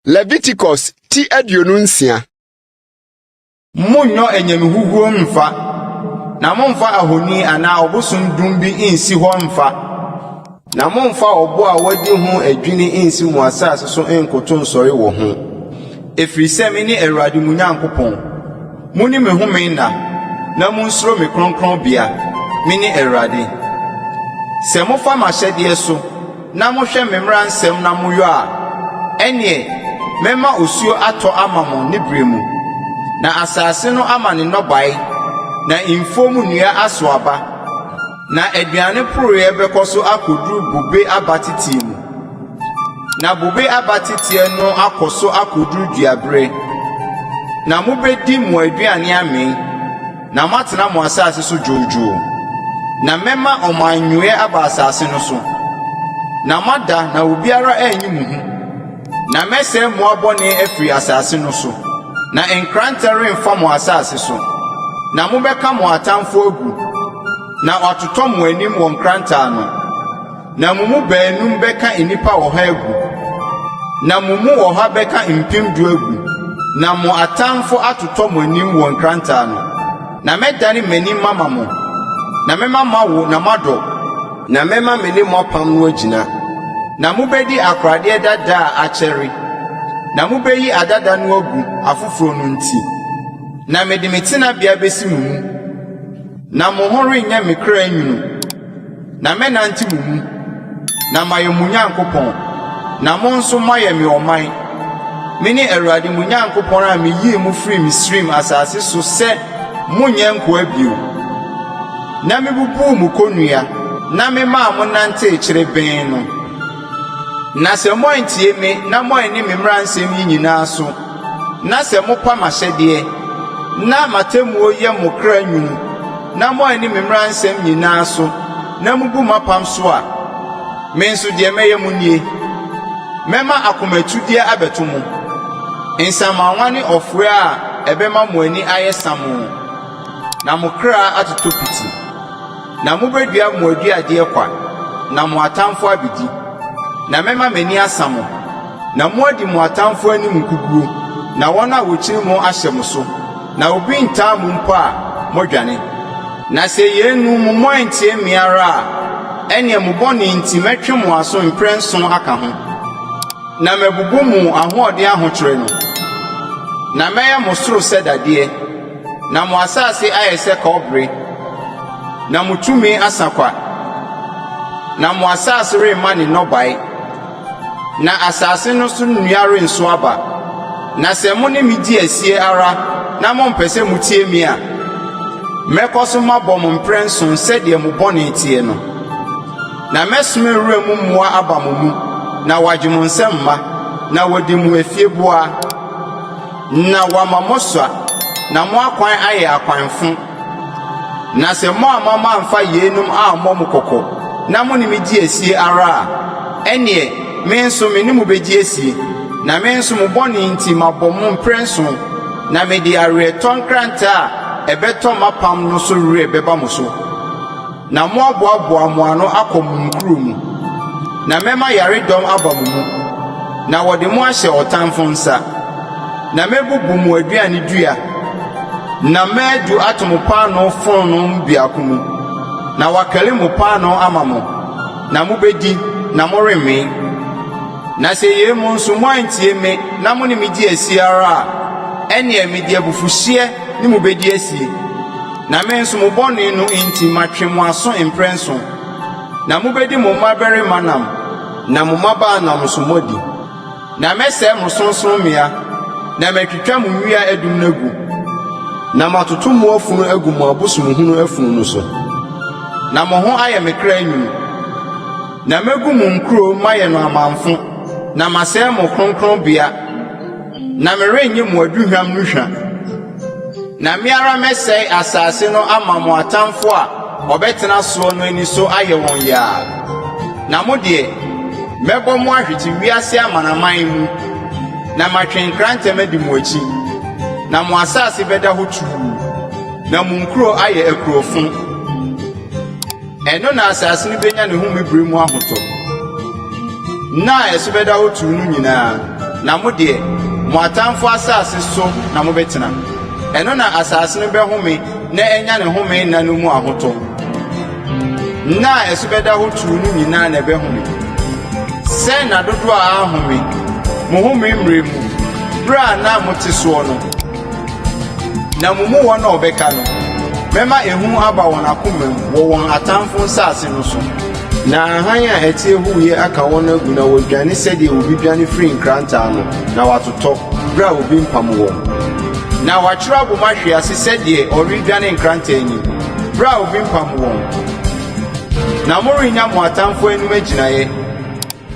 Leviticus ti aduonu nsia. Monnyɔ anyamehuhuo mfa, na momfa ahoni anaa ɔbosom dum bi nsi hɔ mfa. Na mommfa ɔbo a wɔadi ho adwini nnsi mo asase so nnkoto nsɔre wɔ ho, ɛfiri sɛ mene Awurade mo Nyankopɔn. Monni me home nna na monsuro me kronkronbea. Mene Awurade. Sɛ mofa m'ahyɛdeɛ so na mohwɛ me mmara nsɛm na moyɔ a, ɛnneɛ mɛma osuo atɔ ama mo ne berɛ mu, na asase no ama ne nnɔbaeɛ, na mfuom nnua aso aba. Na aduane poroeɛ bɛkɔ so akɔduru bobe abateteɛ mu, na bobe abateteɛ no akɔ so akɔduru duaberɛ, na mobɛdi mo aduane amee, na moatena mo asase so dwoodwoo. Na mɛma ɔmanyɔeɛ aba asase no so, na moada na obiara anyi mo hu. Na mɛsɛe mmoa bɔne afiri asase no so, na nkrantɛ remfa mo asase so. Na mobɛka mo atamfo agu, na wɔatotɔ mo anim wɔ nkrantɛ ano. Na mo mu baanum bɛka nnipa ɔha agu, na mo mu ɔha bɛka mpem du agu, na mo atamfo atotɔ mo anim wɔ nkrantɛ ano. Na mɛdane m'ani mama mo, na mɛma moawo na moadɔ. Na mɛma me ne mo apam no agyina. Na mobɛdi akoradeɛ dada a akyɛre, na mobɛyi adada no agu afoforɔ no nti, na mede me tenabea bɛsi mo mu, na mo ho renyɛ me kra nwunu, na mɛnante mo mu, na mayɛ mo Nyankopɔn, na mo nso moayɛ me ɔman. Mene Awurade mo Nyankopɔn a meyii mo firii Misraim asase so sɛ monnyɛ nkoa bio. Na mibubuu mo konnua, na memaa mo nantee kyere bɛn no. Na sɛ moantie me na moanni me mmara nsɛm yi nyinaa so, na sɛ mopa m'ahyɛdeɛ, na m'atemmuo yɛ mo kra nwunu, na moanni me mmara nsɛm nyinaa so, na mubu m'apam so a, me nso deɛ mɛyɛ mo nie, Mɛma akomatudeɛ abɛto mo, nsamanwa ne ɔfoɛ a ɛbɛma mo ani ayɛ samoo. Na mo kra atotɔ piti. Na mobɛdua mo aduadeɛ kwa, na mo atamfoɔ abɛdi. Na mɛma m'ani asa mo, na moadi mo atamfoɔ anim nkoguo, na wɔn a wɔkyiri mo ahyɛ mo so, na obi rentaa mo mpo a, moadwane. Na sɛ yeinom moantie me ara a, ɛnneɛ mo bɔne nti mɛtwe mo aso mprɛnson aka ho, na mabubu mo ahoɔden ahokyere no, na mɛyɛ mo soro sɛ dadeɛ. Na mo asase ayɛ sɛ kɔbere, na mo tumi asa kwa, na mo asase remma ne nnɔbae, na asase no so nnua rensow aba. Na sɛ mo ne me di asie ara na mompɛ sɛ mutie me a, mɛkɔ so mabɔ mo mprɛnson sɛdeɛ mo bɔne teɛ no. Na mɛsoma wuram mmoa aba mo mu na wɔagye mo nsam mma, na wɔadi mo afieboa. Na wɔama mosoa, na mo akwan ayɛ akwan fõ. Na sɛ moamma mamfa yeinom ammɔ mo kɔkɔ, na mo ne me di asie ara a, ɛnneɛ me nso me ne mo bɛdi asie, na me nso mo bɔne nti mabɔ mo mprɛnson, na mede aweretɔ nkrantɛ a ɛbɛtɔ m'apam no so werɛ bɛba mo so. Na moaboaboa mo ano akɔ mo nkuro mu, na mɛma yaredɔm aba mo mu, na wɔde mo ahyɛ ɔtamfo nsa. Na mɛbubu mo aduane dua, na madu ato mo paanoo fononoo mu biako mu, na wɔakari mo paanoo ama mo, na mobɛdi, na morenwen. Na sɛ yei mu nso moantie me na mo ne me di asie ara a, ɛnneɛ mede abufuhyeɛ ne mo bɛdi asie. Na me nso mo bɔne no nti matwe mo aso mprɛnson, na mobɛdi mo mmabarima nam na mo mmabaa nam nso moadi. Na mɛsɛe mo sorɔnsorɔmmea, na matwitwa mo nnua adum no agu, na matoto mo afunu agu mo abosomhunu afunu no so, na mo ho ayɛ me kra nwunu. Na mɛgu mo nkuro mayɛ no amamfõ, na masɛe mo kronkronbea, na merennye mo aduhwam no hwa. Na me ara mɛsɛe asase no ama mo atamfo a wɔbɛtena soɔ no ani so ayɛ wɔn yaa. Na mo deɛ, mɛbɔ mo ahwete wiase amanaman mu, na matwe nkrantɛm adi mo akyi. Na mo asase bɛda hɔ tumm, na mo nkuro ayɛ akurofoɔ. Ɛno na asase no benya ne home bere mu ahotɔ, nna a ɛso bɛda hɔ tumm no nyinaa, na mo deɛ, mo atamfo asase so na mobɛtena. Ɛno na asase no bɛhome na anya ne home nna no mu ahotɔ. Nna a ɛso bɛda hɔ tumm no nyinaa na ɛbɛhome. Sɛ nna dodoɔ a anhome mo home mmere mu bere a na mote soɔ no, Na mo mu wɔn a wɔbɛka no, mɛma ehu aba wɔn akoma mu wɔ wɔn atamfo nsase no so, na hann a ɛteɛ huuyɛ aka wɔn agu na wɔadwane sɛdeɛ obi dwane firi nkrantɛ ano, na wɔatotɔ berɛ a obi mpam wɔn. Na wɔatwerɛ abɔ mu ahwe ase sɛdeɛ wɔredwane nkrantɛ anim, berɛ a obi mpam wɔn. Na morennya mo atamfo anim agyinaeɛ.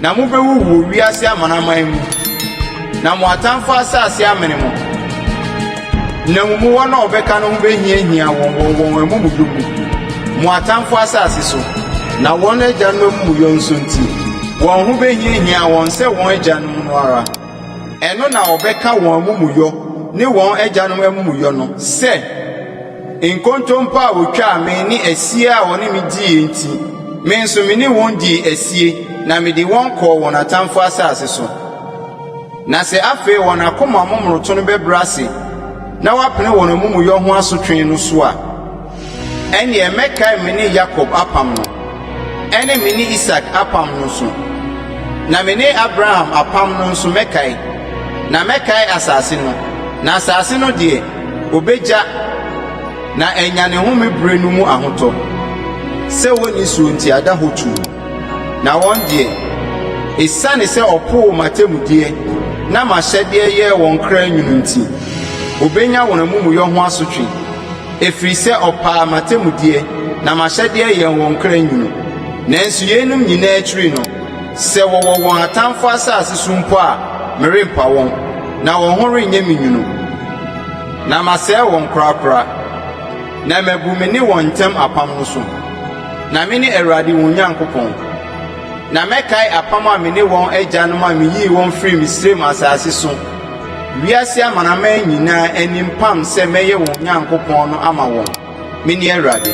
Na mobɛwuwu wɔ wiase amanaman mu, na mo atamfo asase amene mo, na mo mu wɔn a wɔbɛka no ho bɛhiahia wɔn wɔ wɔn amumuyɔ mu, mo atamfo asase so, na wɔn agyanom amumuyɔ nso nti, wɔn ho bɛhiahia wɔn sɛ wɔn agyanom no ara. Ɛno na wɔbɛka wɔn amumuyɔ ne wɔn agyanom amumuyɔ no sɛ. Nkontompo a wɔtwaa me ne asie a wɔne me diiɛ nti, me nso me ne wɔn dii asie, na mede wɔn kɔɔ wɔn atamfo asase so. Na sɛ afei wɔn akoma momonoto no bɛbrɛ ase na wɔapene wɔn amumuyɔ ho asotwe no so a, ɛnneɛ mɛkae me ne Yakob apam no, ɛne me ne Isak apam no nso, na me ne Abraham apam no nso mɛkae, na mɛkae asase no, na asase no deɛ, Obegya, na anya ne home bere no mu ahotɔ. Sɛ wonni so nti ada hɔ tumm. Na wɔn deɛ, esiane sɛ wɔpoo m'atemmudeɛ na m'ahyɛdeɛ yɛɛ wɔn kra nwunu nti, wɔbenya wɔn amumuyɔ ho asotwe, ɛfiri sɛ wɔpaa m'atemmudeɛ na m'ahyɛdeɛ yɛɛ wɔn kra nwunu. Nanso yeinom nyinaa akyiri no, sɛ wɔwɔ wɔn atamfo asase so mpo a, merempa wɔn. Na wɔn ho renyɛ me nwunu, na masɛe wɔn korakora, na mabu me ne wɔn ntam apam no so. Na mene Awurade wɔn Nyankopɔn, na mɛkae apam a me ne wɔn agyanom a miyii wɔn firii Misraim asase so, wiase amanaman nyinaa anim pam sɛ mɛyɛ wɔn Nyankopɔn no ama wɔn. Mene Awurade.